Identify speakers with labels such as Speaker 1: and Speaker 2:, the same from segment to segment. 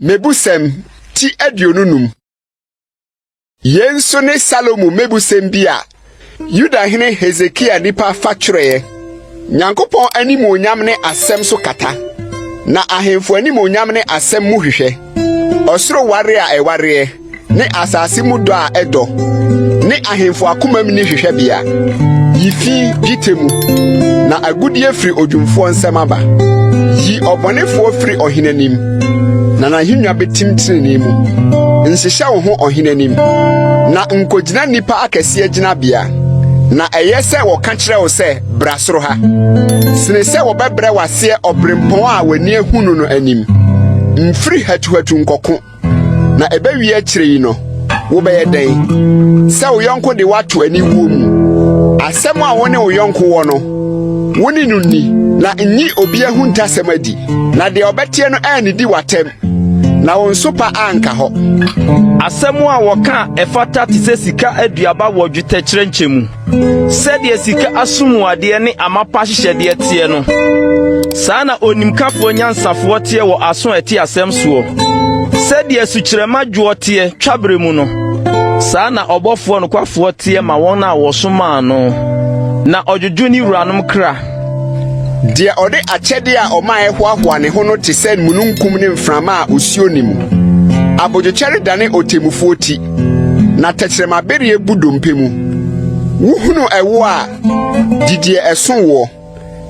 Speaker 1: Mebusɛm ti aduonu num. Yei nso ne Salomo mebusɛm bi a Yudahene Hesekia nipa fa twerɛeɛ. Nyankopɔn animuonyam ne asɛm so kata, na ahemfo animuonyam ne asɛm mu hwehwɛ. Ɔsoro ware a ɛwareɛ ne asase mu dɔ a ɛdɔ, ne ahemfo akomam ni hwehwɛbea. Yi fi dwetɛ mu, na agudeɛ firi odwumfoɔ nsɛm aba. Yi ɔbɔnefoɔ firi ɔhene anim, na n'ahennwa bɛtim tenenee mu. Nhyehyɛ wo ho ɔhene anim, na nkɔgyina nnipa akɛseɛ gyinabea. Na ɛyɛ sɛ wɔka kyerɛ wo sɛ, bra soro ha, sene sɛ wɔbɛbrɛ w'aseɛ ɔberempɔn a w'ani ahu no no anim. Mfiri hatuhatu nkɔko. Na ɛbɛwie akyire yi no, wobɛyɛ dɛn? Sɛ wo yɔnko de woato aniwuo mu. Asɛm a wo ne wo yɔnko wɔ no, wo ne no nni, na nyi obi ahuntasɛm adi, na deɛ ɔbɛteɛ no annidi w'atɛm, na wo nso pa anka hɔ. Asɛm
Speaker 2: a wɔka a ɛfata te sɛ sika aduaba wɔ dwetɛkyerɛnkyɛ mu. Sɛdeɛ sika asomuadeɛ ne amapa hyehyɛdeɛ teɛ no, saa na onimkafoɔ nyansafoɔ teɛ wɔ aso a ɛte asɛm soɔ. Sɛdeɛ sukyerɛma dwoɔ teɛ twaberɛ mu no, saa na ɔbɔfoɔ nokwafoɔ teɛ ma wɔn a wɔsomaa no, na ɔdwodwo ne wuranom kra. Deɛ ɔde akyɛdeɛ a ɔma a ɛhoahoa ne ho no te sɛ mununkum ne mframa a osuo nni mu. Abodwokyɛre dane ɔtemmufoɔ ti, Na tɛkyerɛma bereɛ bu dompe mu. Wohunu ɛwo a, didiɛ ɛso woɔ,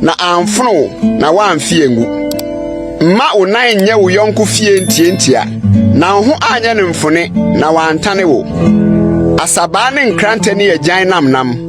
Speaker 2: na amfono wo na woamfe angu. Mma wo nan nyɛ wo yɔnko fie ntiantia, na wo ho anyɛ no mfone na wantane wo. Asabaa ne nkrantɛ ne agyan namnam.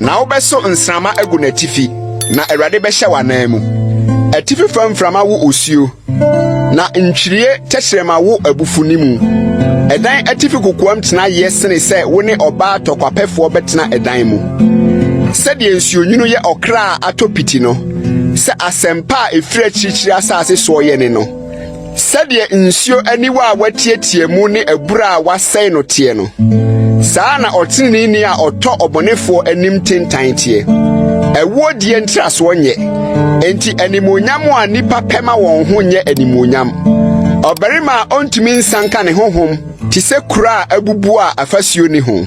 Speaker 2: Na wobɛso nsramma agu n'atifi, na Awurade bɛhyɛ w'anan mu. Atifi fam mframa wo osuo, na ntwirie tɛkyerɛma wo abufu ne mu. Ɛdan atifi kokoam tena yɛ sene sɛ wo ne ɔbaa tɔkwapɛfoɔ bɛtena ɛdan mu. Sɛdeɛ nsuonwunu yɛ ɔkra a atɔ piti no, sɛ asɛmpa a ɛfiri akyirikyiri asase soɔ yɛ ne no, Sɛdeɛ nsuo aniwa a wɔatiatia mu ne abura a wɔasɛe no teɛ no, saa na ɔteneneeni a ɔtɔ ɔbɔnefoɔ anim tentan teɛ. Ɛwoɔ die ntrasoɔ nyɛ, enti animuonyam a nnipa pɛ ma wɔn ho nyɛ animuonyam. Ɔbarima a ɔntumi nsanka ne honhom te sɛ kuro a abubu a afasuo ni ho.